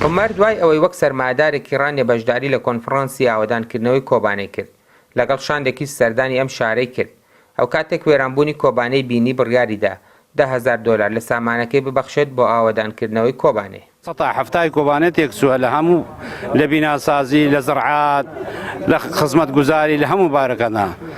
عومەر دوای ئەوەی وەک سەرمایەدارێکی ڕانیە بەشداری لە کۆنفڕانسی ئاوەدانکردنەوەی کۆبانێ کرد، لەگەڵ شاندێکیش سەردانی ئەم شارەی کرد. ئەوکاتێک وێرانبوونی کۆبانێی بینی بڕیاریدا دە هەزار دۆلار لە سامانەکەی ببەخشێت بۆ ئاوەدانکردنەوەی کۆبانێ. سەتا حەفتای کۆبانێ تێکچووە لە هەموو، لە بیناسازی، لە زەڕعات، لە خزمەتگوزاری، لە هەموو بارەکاندا.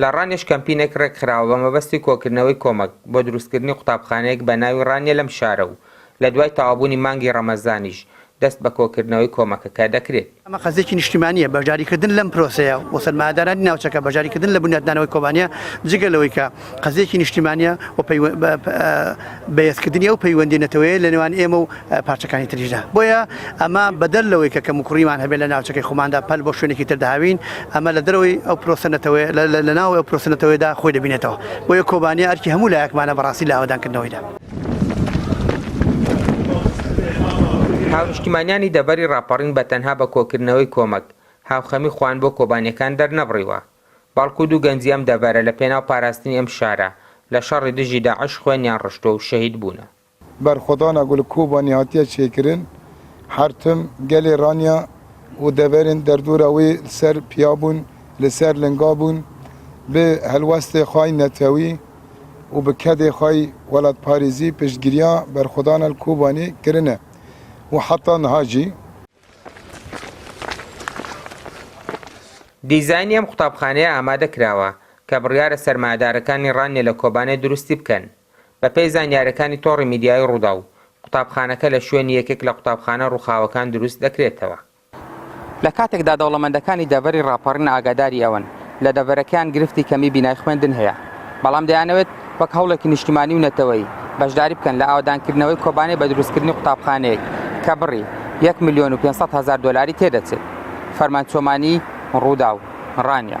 لە ڕانیەش کەمپینێک ڕێکخراوە بە مەبەستی کۆکردنەوەی کۆمەک بۆ دروستکردنی قوتابخانەیەک بە ناوی ڕانیە لەم شارە و لە دوای تەوابوونی مانگی ڕەمەزانیش دەست بە کۆکردنەوەی کۆمەکەکە دەکرێت. ئەمە قەزێکی نیشتیمانییە بەشداریکردن لەم پرۆسەیە و سەرمایەدارانی ناوچەکە بەشداریکردن لە بنیاتنانەوەی کۆبانێ جگە لەوەی کە قەزێکی نیشتیمانییە و بەهێزکردنی ئەو پەیوەندی نەتەوەیە لە نێوان ئێمە و پارچەکانی تریشدا بۆیە ئەمە بەدەر لەوەی کە کەم و کوڕیمان هەبێت لە ناوچەکەی خۆماندا پەل بۆ شوێنێکی تر داوین ئەمە لە دەرەوەی ئەو پرۆسە نەتەوەیە لە ناو ئەو پرۆسە نەتەوەیدا خۆی دەبینێتەوە بۆیە کۆبانیا ئەرکی هەموو لایەکمانە بەڕاستی لە ئاوەدانکردنەوەیدا. هاونیشتیمانیانی دەڤەری ڕاپەڕین بە تەنها بە کۆکردنەوەی کۆمەک، هاوخەمی خۆیان بۆ کۆبانیەکان دەرنەبڕیوە. بەڵکو دوو گەنجی ئەم دەڤەرە لە پێناو پاراستنی ئەم شارە لە شەڕی دژی داعش خوێنیان ڕشتووە و شەهید بوونە. بەرخۆدانا گول کۆبانی هاتیە چێکرن حەرتم گەلێ رانیا و دەڤەرێن دەردورا وی ل سەر پیا بوون ل سەر لنگا بوون ب هەلوەستێ خوەی نەتەوی و ب کەدێ خوەی وەلاتپاریزی پشتگریا بەرخۆدانا ل کۆبانی کرنە و حەتا نها جی دیزاینی ئەم قوتابخانەیە ئامادە کراوە کە بڕیارە سەرمایەدارەکانی ڕانیە لە کۆبانێ دروستی بکەن. بەپێی زانیاریەکانی تۆڕی میدیایی ڕووداو، قوتابخانەکە لە شوێنی یەکێک لە قوتابخانە ڕووخاوەکان دروست دەکرێتەوە. لە کاتێکدا دەوڵەمەندەکانی دەڤەری ڕاپەڕین ئاگاداری ئەوەن لە دەڤەرەکەیان گرفتی کەمی بینای خوێندن هەیە، بەڵام دەیانەوێت وەک هەوڵێکی نیشتیمانی و نەتەوەیی بەشداری بکەن لە ئاوەدانکردنەوەی کۆبانێ بە دروستکردنی قوتابخانەیەک کە بڕی یەک ملیۆن و پێنج سەد هەزار دۆلاری تێدەچێت. فەرمان چۆمانی، رووداو، رانیە.